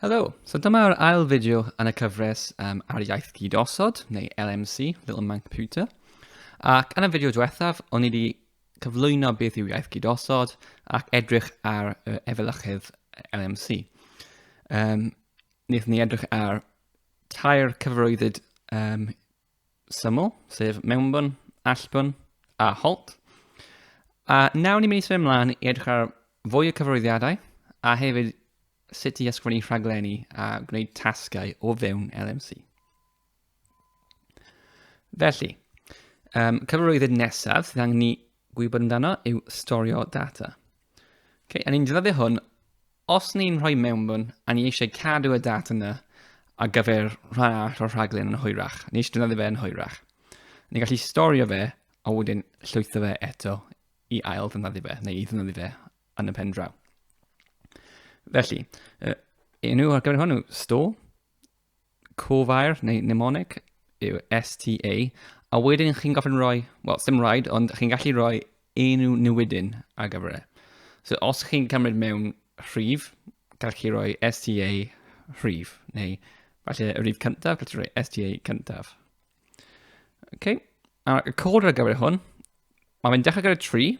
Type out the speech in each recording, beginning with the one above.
Helo! So dyma'r ail fideo yn y cyfres um, ar iaith gyd-osod, neu LMC, Little Man Computer. Ac yn y fideo diwethaf, o'n i wedi cyflwyno beth yw iaith gyd-osod ac edrych ar uh, efelychydd LMC. Um, Nid ni edrych ar tair cyfarwyddyd um, syml, sef mewnbwn, allbwn a holt. A nawr ni'n mynd i symud ymlaen i edrych ar fwy o cyfarwyddiadau a hefyd sut i ysgrifennu rhaglenni a gwneud tasgau o fewn LMC. Felly, um, cyfarwyddyd nesaf sydd angen ni gwybod amdano yw storio data. Okay, a ni'n defnyddio hwn os ni'n rhoi mewnbwn a ni eisiau cadw y data yna ar gyfer rhan arall o'r rhaglen yn hwyrach. Ni eisiau defnyddio fe yn hwyrach. Ni'n gallu storio fe a wedyn llwytho fe eto i ail ddefnyddio fe neu i ddefnyddio fe yn y pen draw. Felly, uh, enw ar gyfer hwnnw, store, cofair neu mnemonic yw STA, a wedyn chi'n gofyn rhoi, wel, dim rhaid, ond chi'n gallu rhoi enw newidyn ar gyfer e. So os chi'n cymryd mewn rhif, gallwch chi roi STA rhif, neu falle y rhif cyntaf, gallwch chi roi STA cyntaf. Okay. A'r y cod ar gyfer hwn, mae fe'n dechrau gyda 3,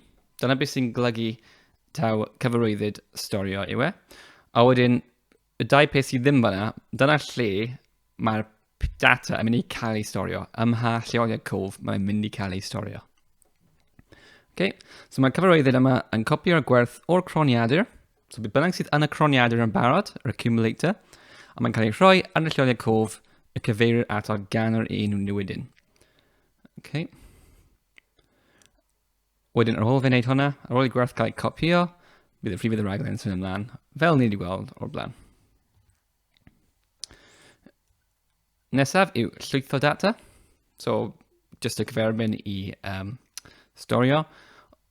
dyna beth sy'n glygu taw cyfarwyddyd storio yw e. A wedyn, Y dau peth sydd ddim fanna, dyna lle mae'r data yn mynd i cael ei storio, ym mha lleoliad cof mae'n mynd i cael ei storio. Okay. So mae cyfarwyddyd yma yn copio'r gwerth o'r croniadur, so bydd bynnag sydd yn y croniadur yn barod, yr accumulator, a mae'n cael ei rhoi ar y lleoliad cof y cyfeirir ato gan yr un newidyn. Okay. Wedyn ar ôl fe wneud hwnna, ar ôl i gwerth cael ei copio, bydd y fydd y rhaglen yn symud ymlaen, fel ni wedi gweld o'r blaen. Nesaf yw llwytho data. So, just y cyferbyn i um, storio.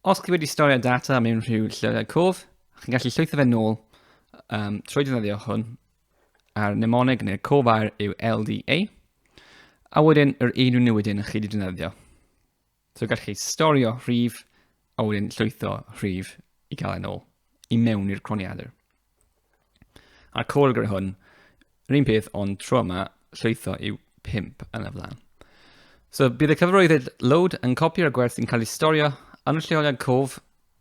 Os chi wedi storio data mewn rhyw llwythau cof, chi'n gallu llwytho fe nôl um, trwy defnyddio hwn a'r mnemonig neu'r cof air yw LDA. A wedyn yr un nhw wedyn chi wedi defnyddio. So gallwch chi storio rhif a wedyn llwytho rhif i gael e'n ôl i mewn i'r croniadur. A'r cod gyda hwn, yr un peth ond tro yma llwytho yw 5 yn y flan. So bydd y cyfarwyddyd load yn copio'r gwerth sy'n cael ei storio yn y lleoliad cof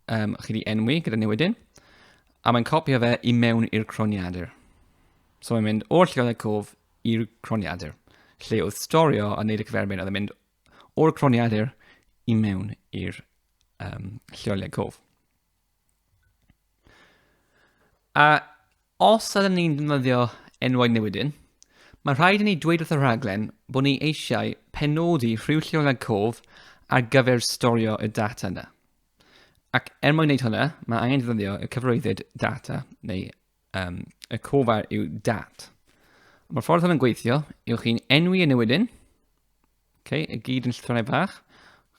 um, chi wedi enwi gyda newidyn, a mae'n copio fe i mewn i'r croniadur. So mae'n mynd o'r lleoliad cof i'r croniadur, lle oedd storio a wneud y cyferbyn, oedd yn mynd o'r croniadur i mewn i'r um, lleoliad cof. A os ydym ni'n defnyddio enwau newidyn, mae rhaid i ni dweud wrth y rhaglen bod ni eisiau penodi rhyw lleoliad cof ar gyfer storio y data yna. Ac er mwyn wneud hynny, mae angen defnyddio y cyfarwyddyd data neu um, y cofar yw dat. Mae'r ffordd hwn yn gweithio yw chi'n enwi y newidyn, okay, y gyd yn llythronau fach,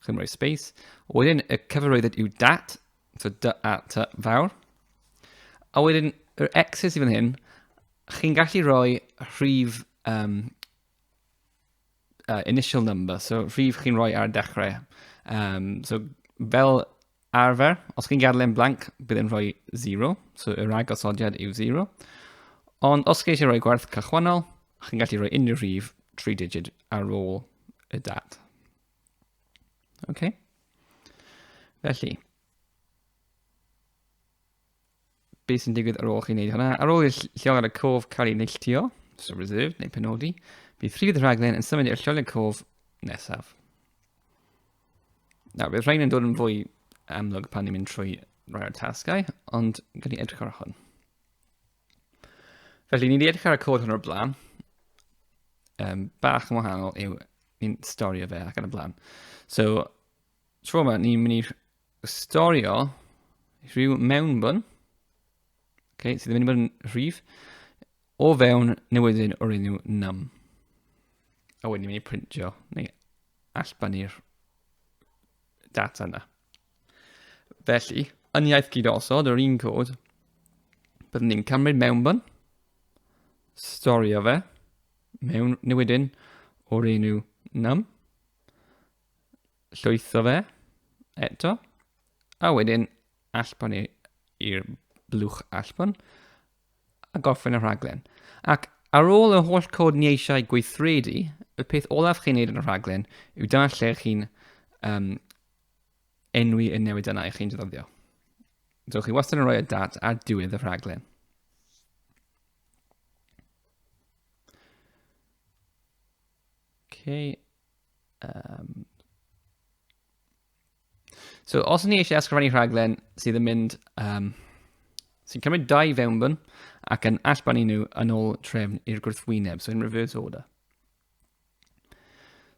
chi'n rhoi space, wedyn y cyfarwyddyd yw dat, so dy a ty fawr, a wedyn yr x's i fan hyn, chi'n gallu rhoi rhif um, uh, initial number, so rhif chi'n rhoi ar y dechrau. Um, so fel Arfer, os chi'n gadael e'n blank, bydd e'n rhoi 0, so y rhag osodiad yw 0. Ond os chi eisiau rhoi gwerth cychwynnol, chi'n gallu rhoi unrhyw rhif 3 digid ar ôl y dad. OK? Felly, beth sy'n digwydd ar ôl chi'n neud hwnna. Ar ôl i'r llong ar y cof cael ei neilltio, so reserved neu penodi, bydd rhifedd y rhaglen yn symud i'r llong ar y cof nesaf. Nawr, bydd rhain yn dod yn fwy amlwg pan ni'n mynd trwy rai o'r tasgau, ond gan i edrych ar hwn. Felly, ni wedi edrych ar y cod hwn o'r blaen. Um, bach yn wahanol yw ni'n storio fe ac yn y blaen. So, tro yma, ni'n mynd i storio rhyw mewnbwn okay, sydd ddim yn mynd yn rhif o fewn newyddion o'r enw num. A wedyn ni'n mynd i printio neu allbannu'r data yna. Felly, yn iaith gyd osod yr un cod, byddwn ni'n cymryd mewnbwn, storio fe, mewn newyddion o'r enw num, Llwytho fe, eto. A wedyn, allbwn i'r blwch allbwn. A gorffen y rhaglen. Ac ar ôl y holl cod ni eisiau gweithredu, y peth olaf chi'n neud yn y rhaglen yw dyna lle chi'n um, enwi y newid yna i chi'n defnyddio. So chi wastad yn rhoi y dat ar diwedd y rhaglen. Okay, Um, so, os ni eisiau ysgrifennu rhaglen sydd yn mynd, um, sy'n cymryd dau fewnbwn ac yn allbanu nhw yn ôl trefn i'r gwrthwyneb, so in reverse order.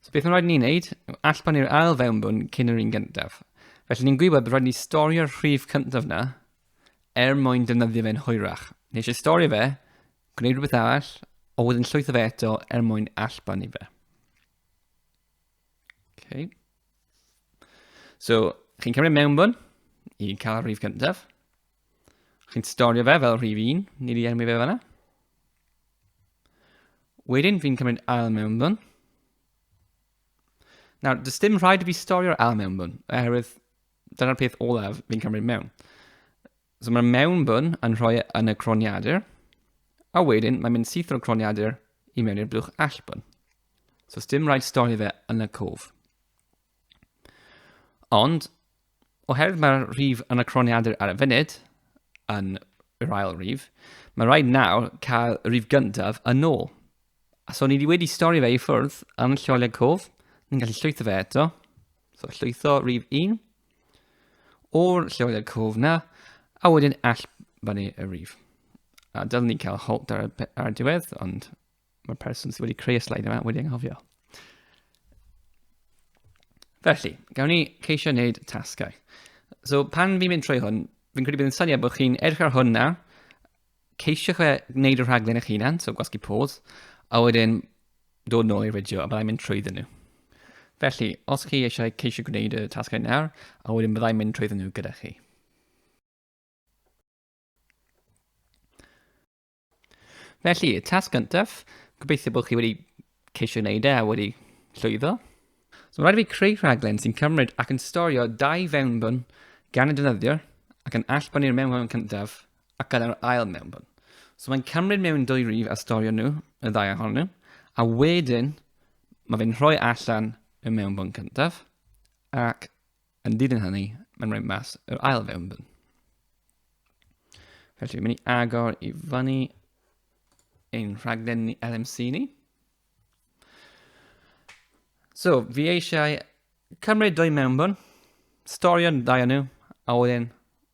So beth mae'n rhaid ni'n neud? Allbanu'r ail fewnbwn cyn yr un gyntaf. Felly ni'n gwybod bod rhaid ni storio'r rhif cyntaf na er mwyn defnyddio fe'n hwyrach. Ni eisiau storio fe Gwneud rhywbeth arall, ond wedyn llwytho fe eto er mwyn allbannu fe. Okay. So, chi'n cymryd mewnbwn i cael rhif cyntaf. Chi'n storio fe fel rhif 1, ni wedi enwi fe fanna. Wedyn fi'n cymryd ail mewnbwn. Nawr, does dim rhaid i fi storio'r ail mewnbwn, oherwydd dyna'r peth olaf fi'n cymryd mewn. So mae'r mewnbwn yn rhoi e yn y croniadur, a wedyn mae'n mynd syth o'r croniadur i mewn i'r blwch allbwn. So dim rhaid stori fe yn y cof. Ond, oherwydd mae'r rhif yn y croniadur ar y funud, yn yr ail rhif, mae rhaid nawr cael y rhif gyntaf yn ôl. A so ni wedi stori fe i ffwrdd yn lleoliad cof, ni'n gallu llwytho fe eto, So llwytho rif 1 o'r lleoliad cof na, a wedyn all fyny y rif. A dylwn ni cael halt ar, ar y diwedd, ond mae'r person sydd wedi creu y slaid yma wedi anghofio. Felly, gawn ni ceisio wneud tasgau. So pan fi'n mynd trwy hwn, fi'n credu bydd yn syniad bod chi'n edrych ar hwn na, ceisio fe wneud y rhaglen eich hunan, so gwasgu pause, a wedyn dod nôl i'r fideo a byddai'n mynd trwyddyn nhw. Felly, os chi eisiau ceisio gwneud y tasgau nawr, a wedyn byddai'n mynd trwyddyn nhw gyda chi. Felly, y tasg gyntaf, gobeithio bod chi wedi ceisio wneud e a wedi llwyddo. So rhaid i fi creu rhaglen sy'n cymryd ac yn storio dau fewnbwn gan y defnyddiwr ac yn allbynnu'r mewnbwn cyntaf ac yna'r ail mewnbwn. So mae'n cymryd mewn dwy rif a storio nhw, y ddau ohonyn nhw, a wedyn mae fe'n rhoi allan y mewnbwn cyntaf ac Yn dilyn hynny, mae'n rhoi mas yr ail fewnbwn. Felly, mynd i agor i fyny ein rhaglen ni LMC ni. So, fi eisiau cymryd dwy mewnbwn, storio'n ddau nhw, a wedyn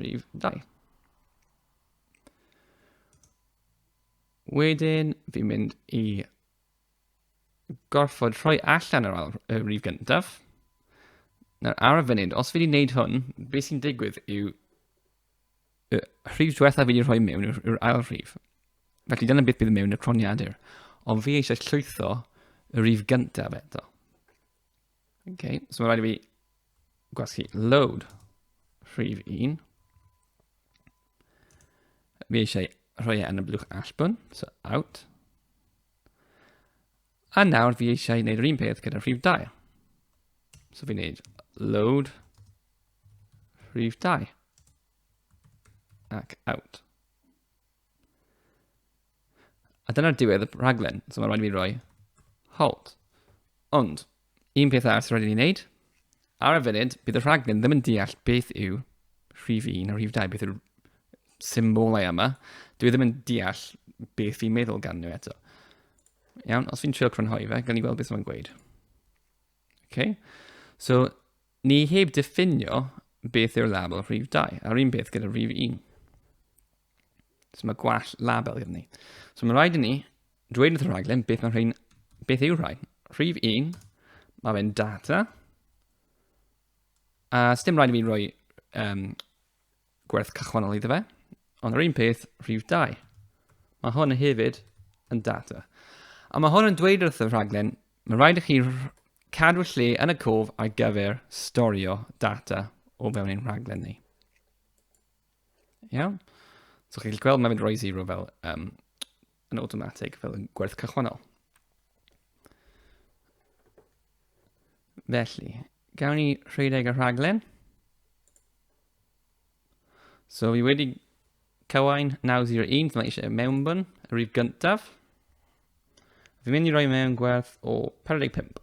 rhif 2. Wedyn, fi'n mynd i gorfod rhoi allan yr, y rif gyntaf. Nawr, ar y funud, os fi wedi gwneud hwn, beth sy'n digwydd yw y rhif diwetha fi wedi rhoi mewn yw'r ail rhif. Felly dyna beth bydd mewn y croniadur. Ond fi eisiau llwytho y rif gyntaf eto. Okay, so mae'n rhaid i fi gwasgu load rhif 1. Mi eisiau rhoi e yn y blwch allbwn, so out. A nawr fi eisiau gwneud yr un peth gyda rhif 2. So fi'n gwneud load rhif 2 ac out. A dyna'r diwedd y rhaglen, so mae'n rhaid i mi roi hold. Ond, un peth arall sy'n rhaid i ni wneud, ar y funud, bydd y rhaglen ddim yn deall beth yw rhif 1 a rhif 2, beth yw'r symbolau yma. Dwi e ddim yn deall beth fi'n meddwl gan nhw eto. Iawn, os fi'n trio crynhoi fe, gan ni weld beth mae'n gweud. Okay. So, ni heb diffinio beth yw'r label rhif 2, a'r un peth gyda rhif 1. So mae gwall label gyda ni. So mae'n rhaid i ni dweud wrth y rhaglen beth mae rhain, beth yw rhain. Rhif 1, mae fe'n data. A uh, dim rhaid i mi roi um, gwerth cychwannol iddo fe. Ond yr un peth, rhif 2. Mae hwn hefyd yn data. A mae hwn yn dweud wrth y rhaglen, mae rhaid i chi cadw lle yn y cof ar gyfer storio data o fewn ein rhaglen ni. Iawn. So chi'n gweld mae'n mynd roi zero fel um, yn automatic, fel yn gwerth cychwannol. Felly, gawn ni rhedeg y rhaglen. So fi wedi cywain 901, dyma eisiau mewnbwn, y rif gyntaf. Fi'n mynd i roi mewn gwerth o 45.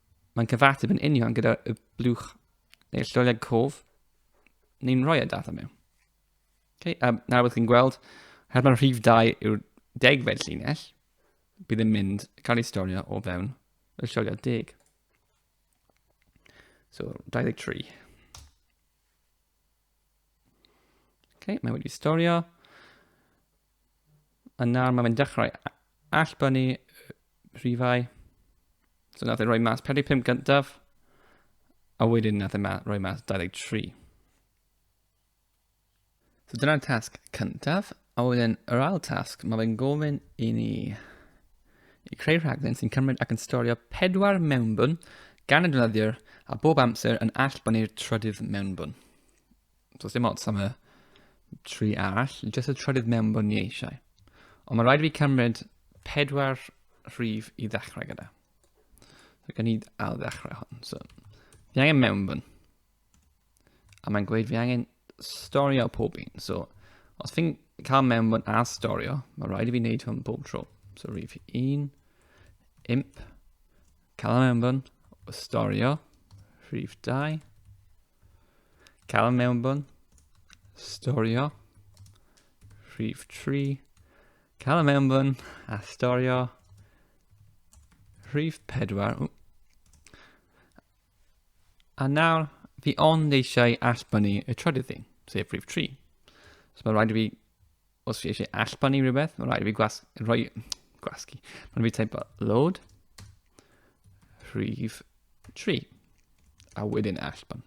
Mae'n cyfateb yn union gyda y blwch neu'r llolleg cof ni'n rhoi y e data mewn. Okay, um, nawr byddwch chi'n gweld, her mae'r rhif 2 yw'r degfed llinell, bydd yn mynd cael ei storio o fewn y llolio deg. So, 23. Okay, mae wedi storio. A nawr mae'n dechrau allbynnu rhifau. So nath e roi mas 45 gyntaf, a wedyn nath e ma roi mas 23. So dyna'r tasg cyntaf, A wedyn yr ail tasg, mae fe'n gofyn i ni i creu rhaglen sy'n cymryd ac yn storio pedwar mewnbwn gan y defnyddiwr a bob amser yn allbonnu'r trydydd mewnbwn. So, dim ots am y tri arall, jyst y trydydd mewnbwn ni eisiau. Ond mae rhaid i fi cymryd pedwar rhif i ddechrau gyda. So, gan i ail ddechrau hwn. So, fi angen mewnbwn. A mae'n gweud fi angen storio pob un. So, os fi'n cael mewnbwn a storio, mae rhaid i fi wneud hwn bob tro. So, rif un, imp, cael mewnbwn, o storio, rhif 2, cael mewnbwn, storio, rhif 3, cael mewnbwn, a storio, rhif 4, A nawr, fi ond eisiau allbynnu y trydydd thing, sef rhif 3. So mae'n rhaid i fi, os fi eisiau allbynnu rhywbeth, mae'n rhaid i fi gwas, rhoi, gwasgu. Mae'n rhaid i fi teimlo load rhif 3 a wedyn allbynnu.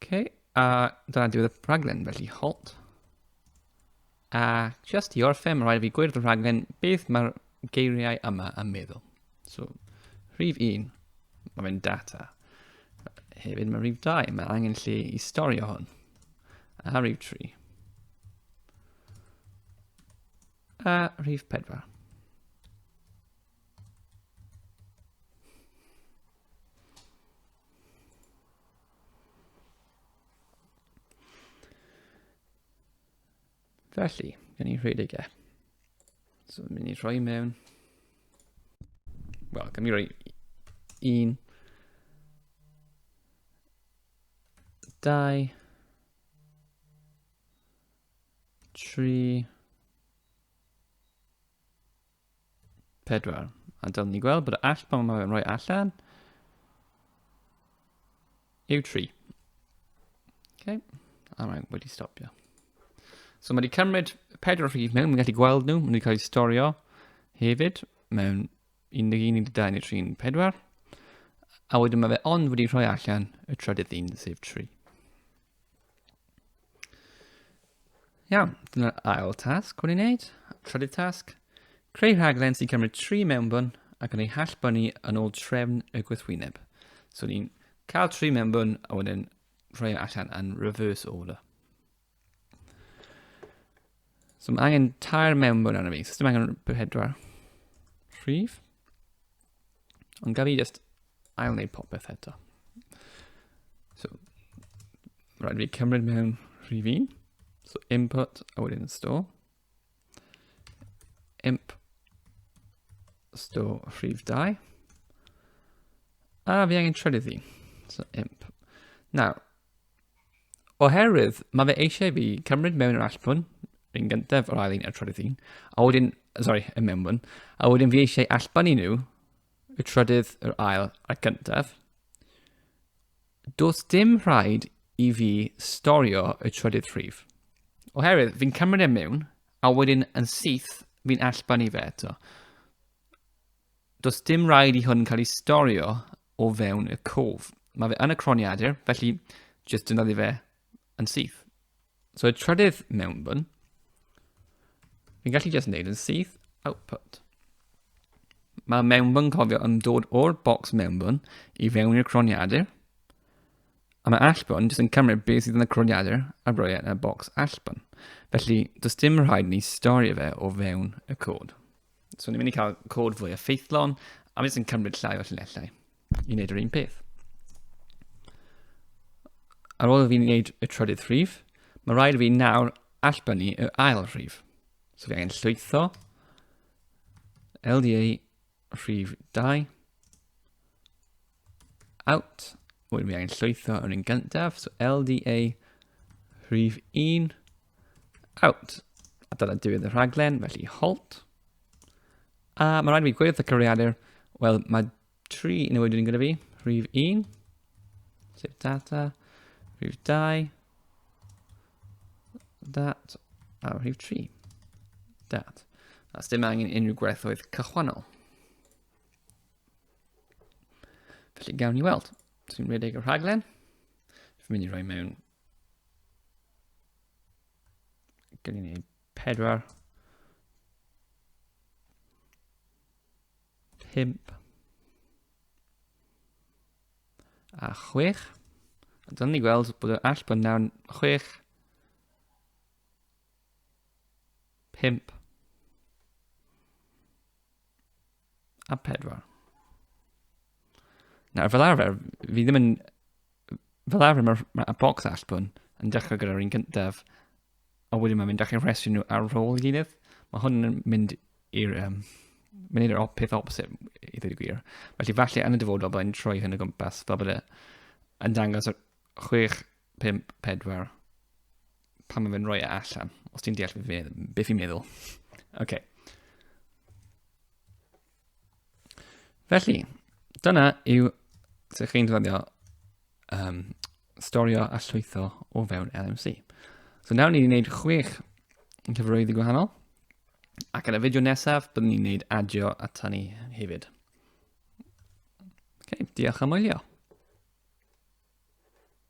OK, a dyna diwedd y rhaglen, felly halt. A just i orffen, mae rhaid fi gwirdd y rhaglen beth mae'r geiriau yma yn meddwl. So, rhif 1, mae fe'n data. Hefyd mae rhif 2, mae angen lle i storio hwn. A rhif 3. A rhif 4. Felly, gen i rhedeg e. So, mynd i rhoi mewn. Wel, gen i rhoi un. Dau. Tri. Pedwar. A dylwn ni gweld bod y all pan mae'n rhoi allan yw tri. Okay. A mae'n wedi stopio. So mae wedi cymryd pedwar rhif mewn, mae'n gallu gweld nhw, mae wedi cael eu storio hefyd mewn 11, 12 neu 3, 4. A wedyn mae fe ond wedi rhoi allan y trydydd un, sef 3. Iawn, dyna'r ail tasg hwn i'n neud. Trydydd tasg, creu rhaglen sy'n cymryd tri mewnbwn ac yn ei hallbynnu yn ôl trefn y gwythwyneb. So ni'n cael tri mewnbwn a wedyn rhoi allan yn reverse order. So mae angen tair mewnbwn arno fi, so dim angen pedwar rhif. Ond gaf i just ail wneud popeth eto. So, rhaid fi cymryd mewn rhif un. So input, a wedyn store. Imp, store rhif 2. A fi angen trydydd un. So imp. Nawr, Oherwydd, mae fe eisiau fi cymryd mewn yr allfwn, yr un gyntaf, yr ail un, a'r trydydd un, a wedyn, sorry, y mewnfwn, a wedyn fi eisiau allbanu nhw, y trydydd, yr ail, a'r gyntaf. Does dim rhaid i fi storio y trydydd rhif. Oherwydd, fi'n cymryd e mewn, a wedyn yn syth, fi'n allbanu fe eto. Does dim rhaid i hwn cael ei storio o fewn y cof. Mae fe yn y croniadur, felly jyst defnyddio fe yn syth. So y trydydd mewnbwn, fi'n gallu jyst wneud yn syth output. Mae mewnbwn cofio yn dod o'r bocs mewnbwn i fewn i'r croniadur, a mae allbwn jyst yn cymryd beth sydd yn y croniadur a roi e yn y bocs allbwn. Felly, does dim rhaid ni storio fe o fewn y cod. So ni'n mynd i cael cod fwy effeithlon, a mynd sy'n cymryd llai o llunellau i wneud yr un peth. Ar ôl fi wneud y trydydd rhif, mae rhaid fi nawr allbynnu y ail rhif. So fi angen llwytho LDA rhif 2 Out. Wedyn mi angen llwytho yr un gyntaf. So LDA rhif 1. Out. A dyna diwedd y rhaglen, felly halt. A mae rhaid i mi gweithio cyfriadur. Wel, mae tri yn y wedyn gyda fi. Rhif 1. Save data. Rhif 2. Dat. A rhif 3. Dat. A dim angen unrhyw gwerthoedd cychwannol. Felly gawn ni weld. Dwi'n rhedeg y rhaglen. Dwi'n mynd i roi mewn... Gawn ni pedwar. Pimp. A chwech. A dyna ni gweld bod yr all bod nawr chwech. Pimp. a pedwar. Nawr, fel arfer, fi ddim yn... Fel arfer, mae'r ma ma box allbwn yn dechrau gyda'r un gyntaf, a wedyn mae'n mynd â chi'n rhestru nhw ar ôl gilydd. Mae hwn yn mynd i'r... Um, mynd i'r peth opposite, i ddweud y gwir. Felly, falle yn y dyfodol, byddai'n troi hyn o gwmpas, fel bydde yn dangos chwech 5, 4. Pan mae fe'n rhoi e allan. Os ti'n deall beth fi'n be fi meddwl. OK. Felly, dyna yw sut chi'n defnyddio um, storio a llwytho o fewn LMC. So nawr ni'n gwneud chwech cyfrwyddi gwahanol. Ac yn y fideo nesaf, byddwn ni'n gwneud adio ata ni hefyd. Okay, diolch am wylio.